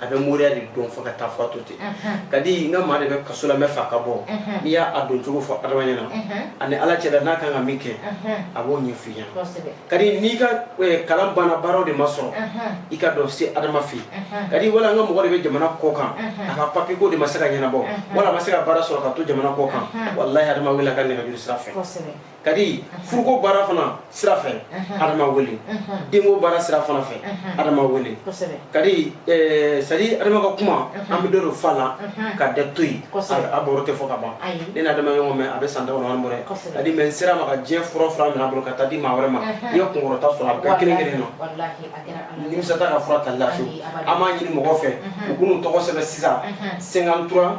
a bɛ moriya de dɔn fo ka taa fɔ to ten kadi n ka maa de bɛ kaso la n b'a fɛ a ka bɔ n'i y'a don cogo fɔ adama ɲɛ na ani ala cɛ n'a kan ka min kɛ a b'o ɲɛfɔ i ye kadi n'i ka eh, kalan banna baaraw de ma sɔrɔ i ka dɔn se adama fɛ kadi wala n ka mɔgɔ de bɛ jamana kɔ kan a ka papiye ko de ma se ka ɲɛnabɔ wala a ma se ka baara sɔrɔ ka to jamana kɔ kan wala adama wele ka nɛgɛjuru sira fɛ kadi furuko baara fana sira fɛ adama wele denko baara sira fana fɛ adama wele kadi c'est-à-dire adama ka kuma an bɛ dɔ de fɔ a la ka dɔ to yen a baro tɛ fɔ ka ban ne na adama ɲɔgɔn mɛn a bɛ san dawɔnɔ bɔrɛ kadi mais n sera ma ka diɲɛ fura fura minɛ a bolo ka taa di maa wɛrɛ ma i ka kunkɔrɔta sɔrɔ a bɛɛ kelen kelen na nimisa t'a ka fura ta la fewu an b'a ɲini mɔgɔw fɛ u k'u tɔgɔ sɛbɛn sisan 53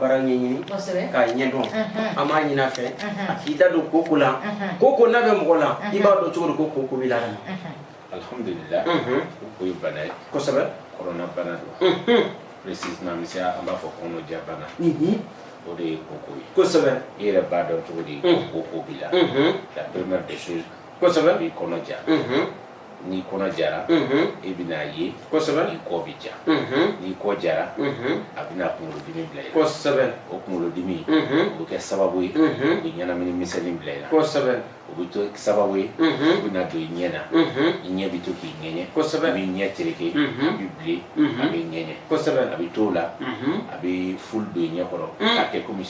baara ɲɛɲini k'a ɲɛdɔn an b'a ɲini a fɛ a k'i da don koko la koko n'a bɛ mɔgɔ la i b'a dɔn cogo di ko koko b'i la ka na alhamdulillah koko ye bana ye kosɛbɛ kɔnɔna bana don précisément monsieur an b'a fɔ kɔnɔja bana o de ye koko ye kosɛbɛ i yɛrɛ b'a dɔn cogo di koko b'i la la première des choses kosɛbɛ b'i kɔnɔ ja n'i kɔnɔ jara i bɛna a ye kosɛbɛ i kɔ bɛ ja n'i kɔ jara a bɛna kunkolodimi bila i la kosɛbɛ o kunkolodimi o bɛ kɛ sababu ye o bɛ ɲɛnamini misɛnnin bila i la kosɛbɛ o bɛ to sababu ye o bɛna don i ɲɛ na i ɲɛ bɛ to k'i ŋɛɲɛ kosɛbɛ a bɛ ɲɛ tereke a bɛ bilen a bɛ ŋɛɲɛ kosɛbɛ a bɛ t'o la a bɛ flou don i ɲɛ kɔrɔ k'a kɛ komi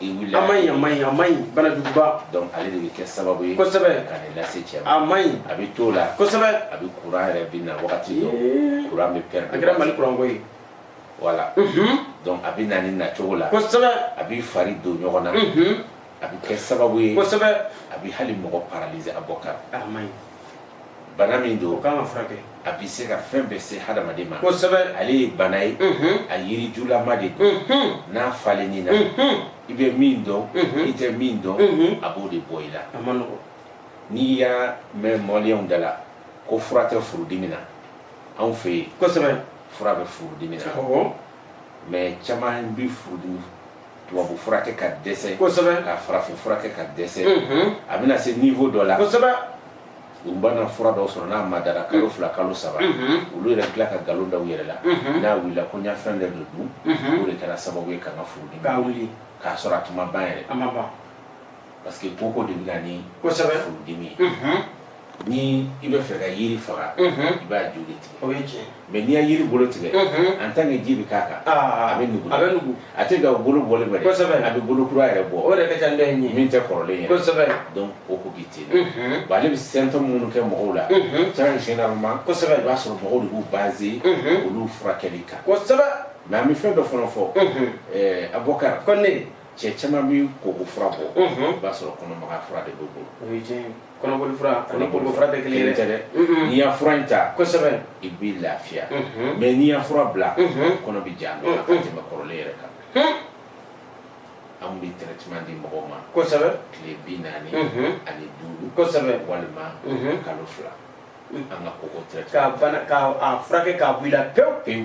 a ma ɲi a ma ɲi a ma ɲi banajuguba donc ale de bɛ kɛ sababu ye kosɛbɛ ka nin lase cɛ ma a ma ɲi a bɛ t'o la kosɛbɛ a bɛ kuran yɛrɛ bɛ na wagati dɔ kuran bɛ pɛrɛn a kɛra mali kuran ko ye voilà donc a bɛ na nin nacogo la kosɛbɛ a b'i fari don ɲɔgɔn na a bɛ kɛ sababu ye kosɛbɛ a bɛ hali mɔgɔ paralyser a b'o kɛ a ma ɲi bana min don ko n'a ma furakɛ a bɛ se ka fɛn bɛɛ se hadamaden ma kosɛbɛ ale ye bana ye a yiri julama de don n'a falenna i na i bɛ min dɔn i tɛ min dɔn a b'o de bɔ i la a ma nɔgɔ n'i y'a mɛn maliyɛnw da la ko fura tɛ furudimi na anw fɛ yen kosɛbɛ fura bɛ furudimi na mais caman bɛ furudimi tubabu furakɛ ka dɛsɛ kosɛbɛ ka farafin furakɛ ka dɛsɛ a bɛna se niveau dɔ la kosɛbɛ u bɛna fura dɔw sɔrɔ n'a madara kalo fila kalo saba olu yɛrɛ bɛ tila ka nkalon da u yɛrɛ la n'a wulila ko n y'a fɛn dɔ de dun o de kɛra sababu ye ka n ka furudimi k'a wuli k'a sɔrɔ a tun ma ban yɛrɛ a ma ban parce que koko de bɛ na ni kosɛbɛ furudimi ye ni i bɛ fɛ ka yiri faga i b'a dili tigɛ mais n'i y'a yiri bolo tigɛ en tant que ji bɛ k'a kan a bɛ nugu a bɛ nugu a tɛ ka bolo bɔlen bɛ a bɛ bolo kura yɛrɛ bɔ o yɛrɛ ka ca dɔ in ye min tɛ kɔrɔlen ye kosɛbɛ donc koko bɛ ten bon ale bɛ symptômes minnu kɛ mɔgɔw la sa généralement kosɛbɛ i b'a sɔrɔ mɔgɔw de b'u baser olu furakɛli kan kosɛbɛ mais an bɛ fɛn dɔ fana fɔ ɛɛ abubakar ko ne cɛ caman bɛ koko fura bɔ i b'a sɔrɔ kɔnɔmagaya fura de b'u bolo kɔnɔboli fura ani koko fura tɛ kelen tɛ dɛ n'i y'a fura in ta kosɛbɛ i b'i lafiya mais n'i y'a fura bila kɔnɔ bɛ ja nɔ ka tɛmɛ kɔrɔlen yɛrɛ kan anw bɛ traitement di mɔgɔw ma kosɛbɛ tile bi naani ani duuru kosɛbɛ walima kalo fila an ka koko traitement ka bana ka a furakɛ k'a bɔ i la pewu pewu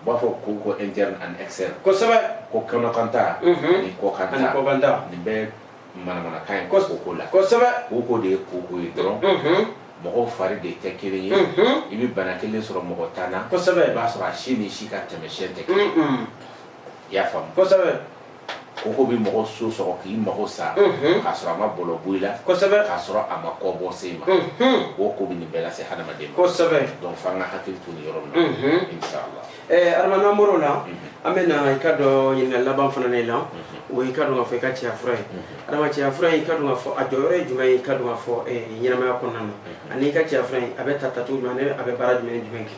U b'a fɔ koko interne ani externe kosɛbɛ ko kɔnɔkanta ni kɔkanta nin bɛɛ manamanakan ye koko ko la kosɛbɛ koko de ye koko ye dɔrɔn mɔgɔw fari de tɛ kelen ye i bɛ bana kelen sɔrɔ mɔgɔ tan na kosɛbɛ i b'a sɔrɔ a si ni si ka taamasiyɛn tɛ kelen i y'a faamu kosɛbɛ koko bɛ mɔgɔ so sɔrɔ k'i mago sa k'a sɔrɔ a ma bɔlɔ bɔ i la kosɛbɛ k'a sɔrɔ a ma kɔbɔ se i ma koko bɛ nin bɛɛ lase hadamaden ma kosɛbɛ donc f'an ka hakili to nin yɔrɔ min na inshallah ɛɛ adama n'an bɔr'o la an bɛ na i ka dɔn ɲininkali laban fana ne la o y'i ka dɔn k'a fɔ i ka cɛya fura ye adama cɛya fura in i ka dɔn k'a fɔ a jɔyɔrɔ ye jumɛn ye i ka dɔn k'a fɔ ɲɛnamaya kɔnɔna na ani i ka cɛya fura in a bɛ ta tacogo jumɛn ani a bɛ baara jumɛn jumɛn kɛ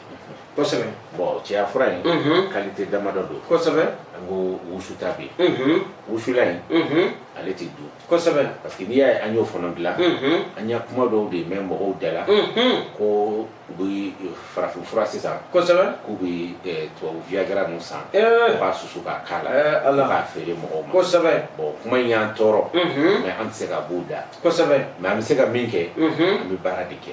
kosɛbɛ bon cɛya fura in Mhm. qualité damadɔ don kosɛbɛ an ko wusuta bɛ yen Mhm. wusula in Mhm. ale tɛ dun kosɛbɛ parce que n'i y'a ye an y'o fana dilan Mhm. an y'a kuma dɔw de mɛn mɔgɔw da la Mhm. ko u bɛ farafin fura sisan kosɛbɛ k'u bɛ eh, tubabu viagra ninnu san Eh. u b'a susu k'a k'a la Eh, Ala. k'a feere mɔgɔw ma kosɛbɛ bon kuma in y'an tɔɔrɔ Mhm. mais an tɛ se ka b'u da kosɛbɛ mais an bɛ se ka min kɛ Mhm. an bɛ baara de kɛ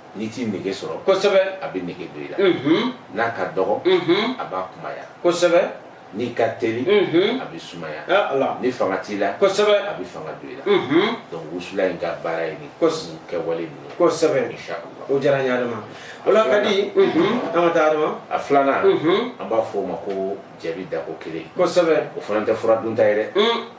n'i tɛ nege sɔrɔ kosɛbɛ a bɛ nege don i la n'a ka dɔgɔ a b'a kunbaya kosɛbɛ n'i ka teli a bɛ sumaya ni fanga t'i la kosɛbɛ a bɛ fanga don i la donc wusula in ka baara ye nin kosɛbɛ kɛwale ninnu kosɛbɛ inshallah o diyara n ye adama o la ka di an ka taa adama a filanan an b'a fɔ o ma ko jaabi dako kelen kosɛbɛ o fana tɛ fura dunta ye dɛ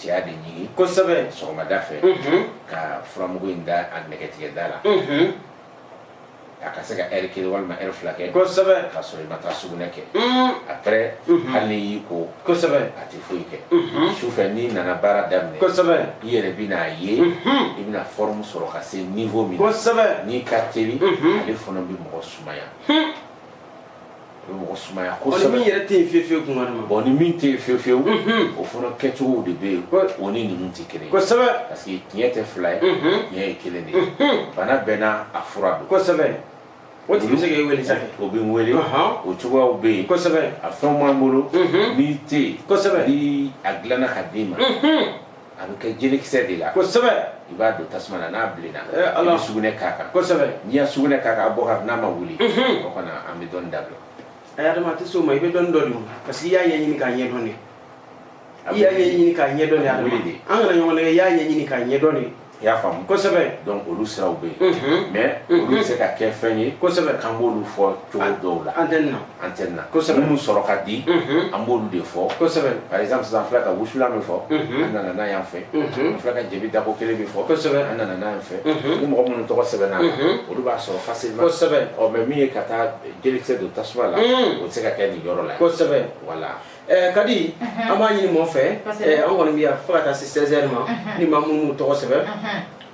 cɛya de ɲigin kosɛbɛ sɔgɔmada fɛ ka furamugu in da a nɛgɛtigɛ da la a ka se ka heure kelen walima heure fila kɛ kosɛbɛ k'a sɔrɔ i ma taa sugunɛ kɛ après hali n'i y'i ko kosɛbɛ a tɛ foyi kɛ sufɛ n'i nana baara daminɛ kosɛbɛ i yɛrɛ bɛn'a ye i bɛna forme sɔrɔ ka se niveau min na kosɛbɛ n'i ka teli ale fana bɛ mɔgɔ sumaya bɛ mɔgɔ sumaya kosɛbɛ ni min yɛrɛ tɛ yen fiyewu fiyewu kuma ma bɔn ni min tɛ yen fiyewu fiyewu o fana kɛcogow de bɛ yen o ni ninnu tɛ kelen kosɛbɛ parce que tiɲɛ tɛ fila ye tiɲɛ ye kelen de ye bana bɛɛ n'a fura don kosɛbɛ o tigi bɛ se k'e wele sa o bɛ n wele o cogoyaw bɛ yen kosɛbɛ a fɛnw b'an bolo n'i tɛ yen kosɛbɛ ni a dilanna ka d'i ma a bɛ kɛ jelekisɛ de la kosɛbɛ i b'a don tasuma na n'a bilenna eh, i bɛ sugunɛ k'a kan kosɛbɛ n'i y'a sugunɛ k'a kan a bɔ ka n'a ma wuli mhm. o kɔni an bɛ dɔnni dabila ayi adama a tɛ s'o ma i bɛ dɔnni dɔn de parce que i y'a ɲɛɲini k'a ɲɛdɔn de i y'a ɲɛɲini k'a ɲɛdɔn de a wuli de an kana ɲɔgɔn nɛgɛn i y'a ɲɛɲini k'a ɲɛdɔn de i y'a faamu kosɛbɛ donc olu siraw bɛ yen mhm. mais mhm. olu bɛ se ka kɛ fɛn ye kosɛbɛ k'an b'olu fɔ cogo dɔw la antenne na antenne na kosɛbɛ minnu sɔrɔ ka di an b'olu de fɔ kosɛbɛ par exemple sisan filɛ ka wusulan min fɔ an nana n'a y'an fɛ filɛ ka jɛbi dako kelen min fɔ kosɛbɛ an nana n'a y'an fɛ ni mɔgɔ minnu tɔgɔ sɛbɛnna olu b'a sɔrɔ facilement kosɛbɛ ɔ mais min ye ka taa jelekisɛ don tasuma la o tɛ se ka kɛ nin yɔrɔ la kosɛbɛ voilà Eh, kadi an b'a ɲini mɔgɔ fɛ eh, an kɔni bɛ yan fo ka taa se 16 heures ma ni maa minnu m'u tɔgɔ sɛbɛn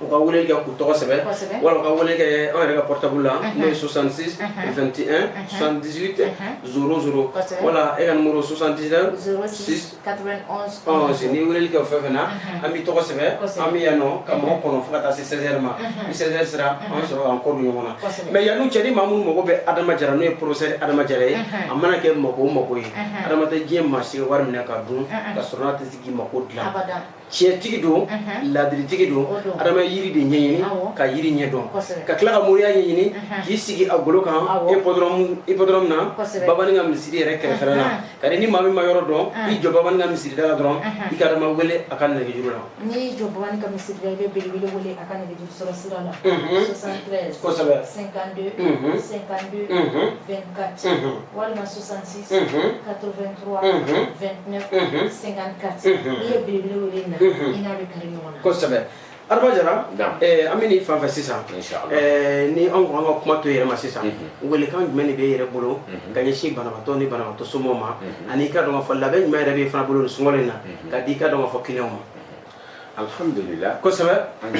u ka wele kɛ k'u tɔgɔ sɛbɛn wala u ka wele kɛ an yɛrɛ ka portable la n'o ye 66 21 78 00 wala e ka numéro 79 6 91 n'i wele kɛ o fɛn fɛn na an b'i tɔgɔ sɛbɛn an bɛ yan nɔ ka mɔgɔ kɔnɔ fo ka taa se 16 heures ma ni 16 heures sera an sɔrɔ k'an kɔ don ɲɔgɔn na mais yanni cɛ ni maa minnu mago bɛ adama jara n'o ye professeur adama jara ye a mana kɛ mako o mako ye adama tɛ diɲɛ maa si wari minɛ ka dun ka sɔrɔ a tɛ se k'i mako dilan tiɲɛtigi don ladiritigi don adama ye yiri de ɲɛɲini ka yiri ɲɛ dɔn ka tila ka moriya ɲɛɲini k'i sigi a golo kan hippodrome na babani ka misiri yɛrɛ kɛrɛfɛla na kadi ni maa min ma yɔrɔ dɔn i jɔ babani ka misiri da la dɔrɔn i ka adama wele a ka nɛgɛjuru la n'i jɔ babani ka misiri da i bɛ belebele wele a ka nɛgɛjuru sɔrɔ sira la 73 kosɛbɛ 52 52 24 walima 66 kosɛbɛ adama jara an bɛ nin fan fɛ sisan ni anw ko an ka kuma to i yɛrɛ ma sisan welekan jumɛn de b'i yɛrɛ bolo ka ɲɛsin banabaatɔ ni banabaatɔ somɔgɔw ma ani i ka dɔn fɔ laban jumɛn yɛrɛ b'i fana bolo nin sunkalo in na ka di i ka dɔn fɔ kiliyanw ma alhamdulila kosɛbɛ an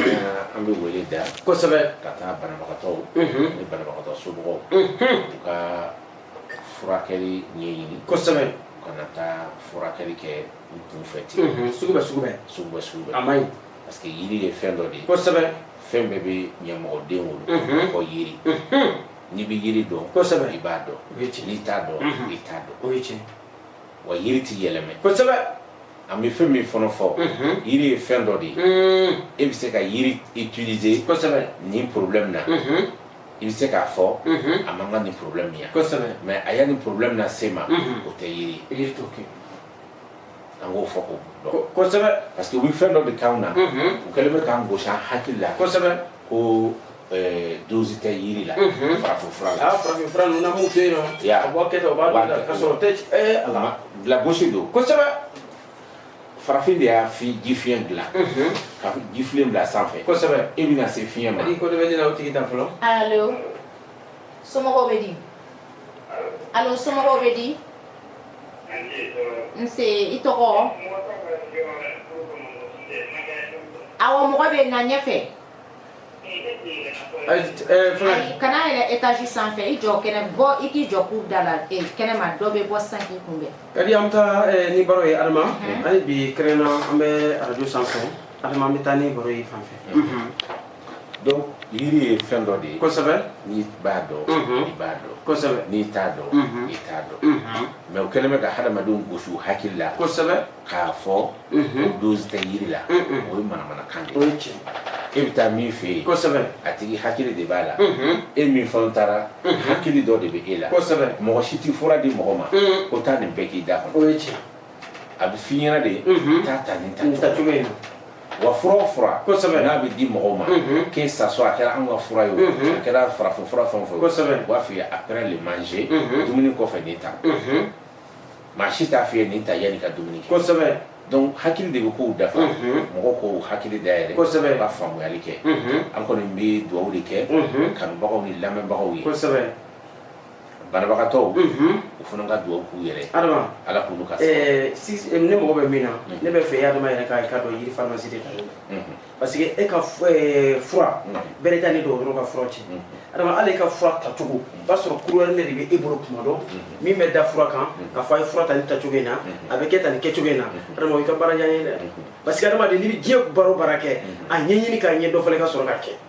an bɛ wele da kosɛbɛ ka taa banabagatɔw ni banabagatɔ somɔgɔw u ka furakɛli ɲɛɲini kosɛbɛ kana taa furakɛli kɛ u kunfɛ ten mhm, sugu bɛ sugu bɛ sugu bɛ sugu bɛ a man ɲi parce que yiri ye fɛn dɔ de ye kosɛbɛ fɛn bɛɛ bɛ ɲamɔgɔden wolo mhm. fo yiri mhm. n'i bɛ yiri dɔn kosɛbɛ i b'a dɔn n'i t'a dɔn i t'a dɔn o ye tiɲɛ wa yiri tɛ yɛlɛmɛ kosɛbɛ an bɛ fɛn min fana fɔ yiri ye fɛn dɔ de ye e bɛ se ka yiri utiliser kosɛbɛ nin problème na i bɛ se k'a fɔ a man kan nin problème ye mais a y'a ni problème na se ma o tɛ yiri ye an k'o fɔ ko parce que u bɛ fɛn dɔ de k'an na u kɛlen bɛ k'an gosi an hakili la ko dose tɛ yiri la farafin fura la farafin fura ninnu na bɛ yen nɔ a bɔ kɛ ka sɔrɔ tɛ ala lagosi don farafin de y'a fi ji fiɲɛ dilan ka ji filen bila sanfɛ kosɛbɛ e bɛna se fiɲɛ ma i ko dɔ bɛ ne la o tigi ta fɔlɔ alo somɔgɔw bɛ di alo somɔgɔw bɛ di nse i tɔgɔ awɔ mɔgɔ bɛ na ɲɛfɛ kana yɛlɛ etazi sanfɛ i jɔ kɛnɛ bɔ i k'i jɔ cour da la kɛnɛma dɔ bɛ bɔ san k'i kunbɛn kadi an bɛ taa ni baro ye adama hali bi kɛrɛnna an bɛ arajo sanfɛ adama an bɛ taa ni baro ye fan fɛ donc yiri ye fɛn dɔ de ye kosɛbɛ n'i b'a dɔn i b'a dɔn kosɛbɛ n'i t'a dɔn i t'a dɔn mais u kɛlen bɛ ka hadamadenw gosi u hakili la kosɛbɛ k'a fɔ mhm. dose tɛ yiri la o ye manamanakan de ye e bɛ taa min fɛ yen kosɛbɛ a tigi hakili de b'a la mhm. e min fana taara mhm. hakili dɔ de bɛ e la kosɛbɛ mɔgɔ si tɛ fura di mɔgɔ ma ko taa nin bɛɛ k'i da kɔnɔ o ye tiɲɛ a bɛ f'i ɲɛna de taa ta nin tacogo in na wa fura o fura kosɛbɛ n'a bɛ di mɔgɔw ma que ça soit a kɛra an ka fura ye o a kɛra farafin fura fɛn o fɛn ye u b'a f'i ye après le manger dumuni kɔfɛ nin ta maa si t'a f'i ye nin ta yanni ka dumuni kɛ kosɛbɛ donc hakili de bɛ kow dafa mɔgɔw k'u hakili dayɛlɛ kosɛbɛ ka faamuyali kɛ an kɔni bɛ dugawu de kɛ kanubagaw ni lamɛnbagaw ye kosɛbɛ banabagatɔw u fana ka dugawu k'u yɛrɛ adama ala k'olu ka ne mago bɛ min na ne b'a fɛ adama yɛrɛ k'a ka dɔn yiri faramasi de ka parce que e ka eh, fura mm. bɛrɛ t'a ni dɔgɔtɔrɔ ka fura cɛ mm. adama hali e ka fura tacogo o mm. b'a sɔrɔ courrier de bɛ e bolo tuma dɔ mm-hmm. min bɛ da fura kan mm-hmm. k'a fɔ a ye fura ta nin tacogo in na mm-hmm. a bɛ kɛ tan nin kɛcogo in na adama o y'i ka baara diya n ye dɛ parce que adamaden n'i bɛ diɲɛ baara o baara kɛ a ɲɛɲini k'a ɲɛ dɔn fɔlɔ ka sɔrɔ k'a kɛ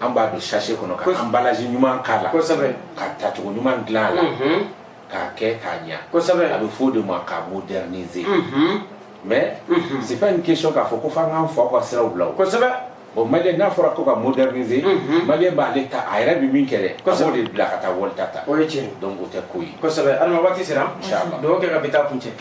an b'a don sachet kɔnɔ ka emballage ɲuman k'a la ka tacogo ɲuman dilan a la k'a kɛ k'a ɲa a bɛ fɔ o de ma k'a moderniser mais c'est pas une question k'a fɔ ko f'an k'an faw ka siraw bila o bon maliyɛn n'a fɔra ko ka moderniser maliyɛn b'ale ta a yɛrɛ bɛ min kɛ dɛ a b'o de bila ka taa wali ta ta o ye tiɲɛ donc o tɛ ko ye kosɛbɛ adama waati sera inchallah dugawu kɛ ka bi ta kuncɛ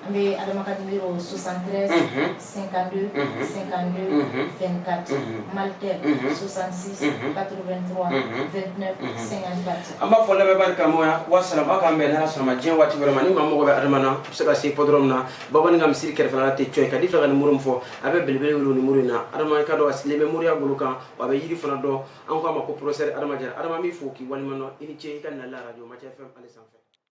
An bɛ adamadenw o susan senkandi senkandi fɛnkati malikɛ susansi katouru bɛ an b'a fɔ lamɛnbari karamɔgɔya walasasaba ka mɛn n' sɔrɔ diɲɛ waati wɛrɛ ma ni maa mɔgɔ bɛ adama na bɛ se ka se kɔd min na bamanan ka misi kɛrɛfɛla tɛ cogo ka di fɛ ka ni muru fɔ a bɛ beleb wolo ni muru in na adamaka dɔn a sigilen bɛ moriya bolo kan a bɛ yiri fana dɔn an k'a ma ko porosɛri adamajɛ adama min fɔ k'i walima i ni ce i ka na araj ma cɛ fɛn sanfɛ